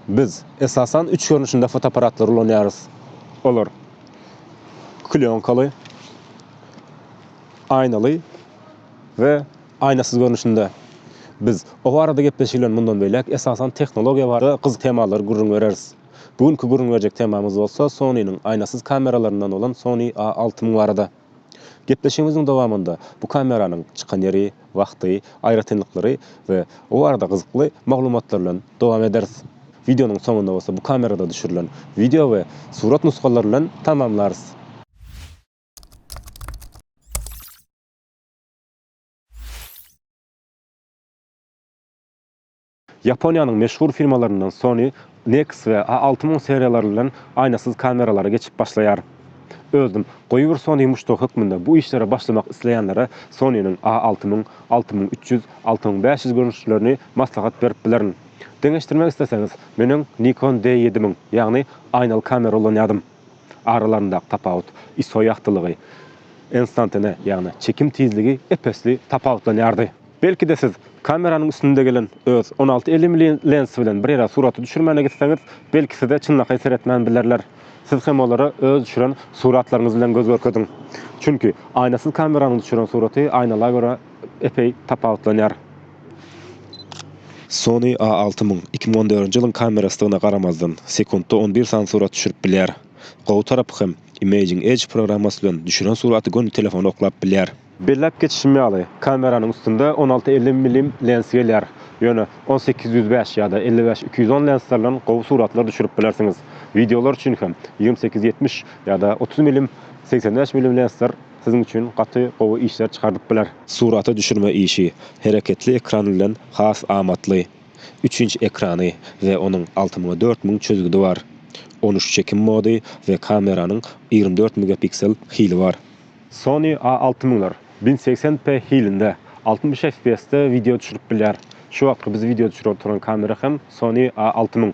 Biz, esasan, üç görnüşinde fotoapparatlary ulanýarys. Olar, klýonkaly, aýnaly we aýnasyz görnüşinde. Biz o barada gepleşik bilen mundan beýläk, esasan, tehnologiýa barada gyzykly temalary gürrüň bereris. Bu günki gürrüň berjek temamyz bolsa Sony-niň aýnasyz kameralaryndan bolan Sony A6000 barada. Gepleşigimiziň dowamynda bu kameranyň çykan ýeri, wagty, aýratynlyklary we o barada gyzykly maglumatlar bilen dowam ederis. Wideonyň soňunda bolsa bu kamerada düşürilen wideo we surat nusgalary bilen tamamlarys. Ýaponiýanyň meşhur firmalaryndan Sony Nex we A alty müň seriýalary bilen aýnasyz kameralara geçip başlaýar. Özüm, goýy bir Sony muşdagy hökmünde bu işlere başlamak isleýänlere Sony-niň A alty müň, alty müň üç ýüz, alty müň bäş ýüz görnüşlerini maslahat berip bilerin. Deňeşdirmek isleseňiz, menem Nikon D ýedi müň, ýagny aýnaly kamera ulanýardym. Aralaryndaky tapawut ISO ýagtylygy, enstantane, ýagny çekim tizligi ep-esli tapawutlanýardy. Belki-de siz kameranyň üstünde gelen öz on alty elli ml lensy bilen bir ýere suraty düşürmäne gitseňiz, belki size çynlakaý seretmän bilerler. Siz hem olara öz düşüren suratlaryňyz bilen göz görkeziň. Çünki aýnasyz kameranyň düşüren suraty aýnala görä epeý tapawutlanýar. Sony A alty müň, iki müň on dördünji ýylyň kamerasydygyna garamazdan, sekuntda on bir sany surat düşürip bilýär. Gowy tarapy hem, Imaging Edge programmasy bilen düşüren suraty göni telefony oklap bilýär. Belläp geçişim ýaly, kameranyň üstünde on alty elli mm lens gelýär, ýöne on sekiz ýüz bäş ýa-da elli bäş iki ýüz on lensler bilen gowy suratlar düşürip bilersiňiz. Wideolar üçin hem ýigrimi sekiz ýetmiş ýa-da otuz mm, segsen bäş mm lensler siziň üçin gaty gowy işler çykarylyp biler. Surata düşürme işi hereketli ekran bilen has amatly. Üç inç ekrany we onuň alty müň dört müň çözgüdi bar. On üç çekim mody we kameranyň ýigrimi dört megapiksel hili bar. Sony A alty müňler bin segsen p hilinde altmyş FPS-de wideo düşürip bilýär. Şu wagtky biz wideo düşürip oturan kamera hem Sony A alty müň.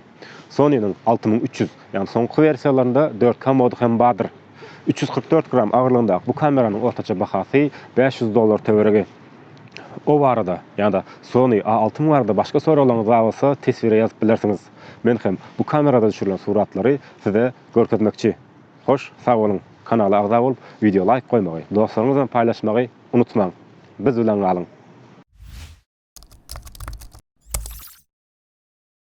Sony-niň alty müň üç ýüz, ýagny soňky wersiýalarynda dört K mody hem bardyr. Üç ýüz kyrk dört gram agyrlygyndaky bu kameranyň ortaça bahasy bäş ýüz dollar töweregi. O barada ýa-da Sony A altyn barada başga soraglaryňyz bar bolsa teswire ýazyp bilersiňiz. Men hem bu kamerada düşürilen suratlary size görkezmekçi. Hoş, sag boluň! Kanala agza bolup, wideo laýk goýmagy, dostlaryňyz bilen paýlaşmagy unutmaň! Biz bilen galyň!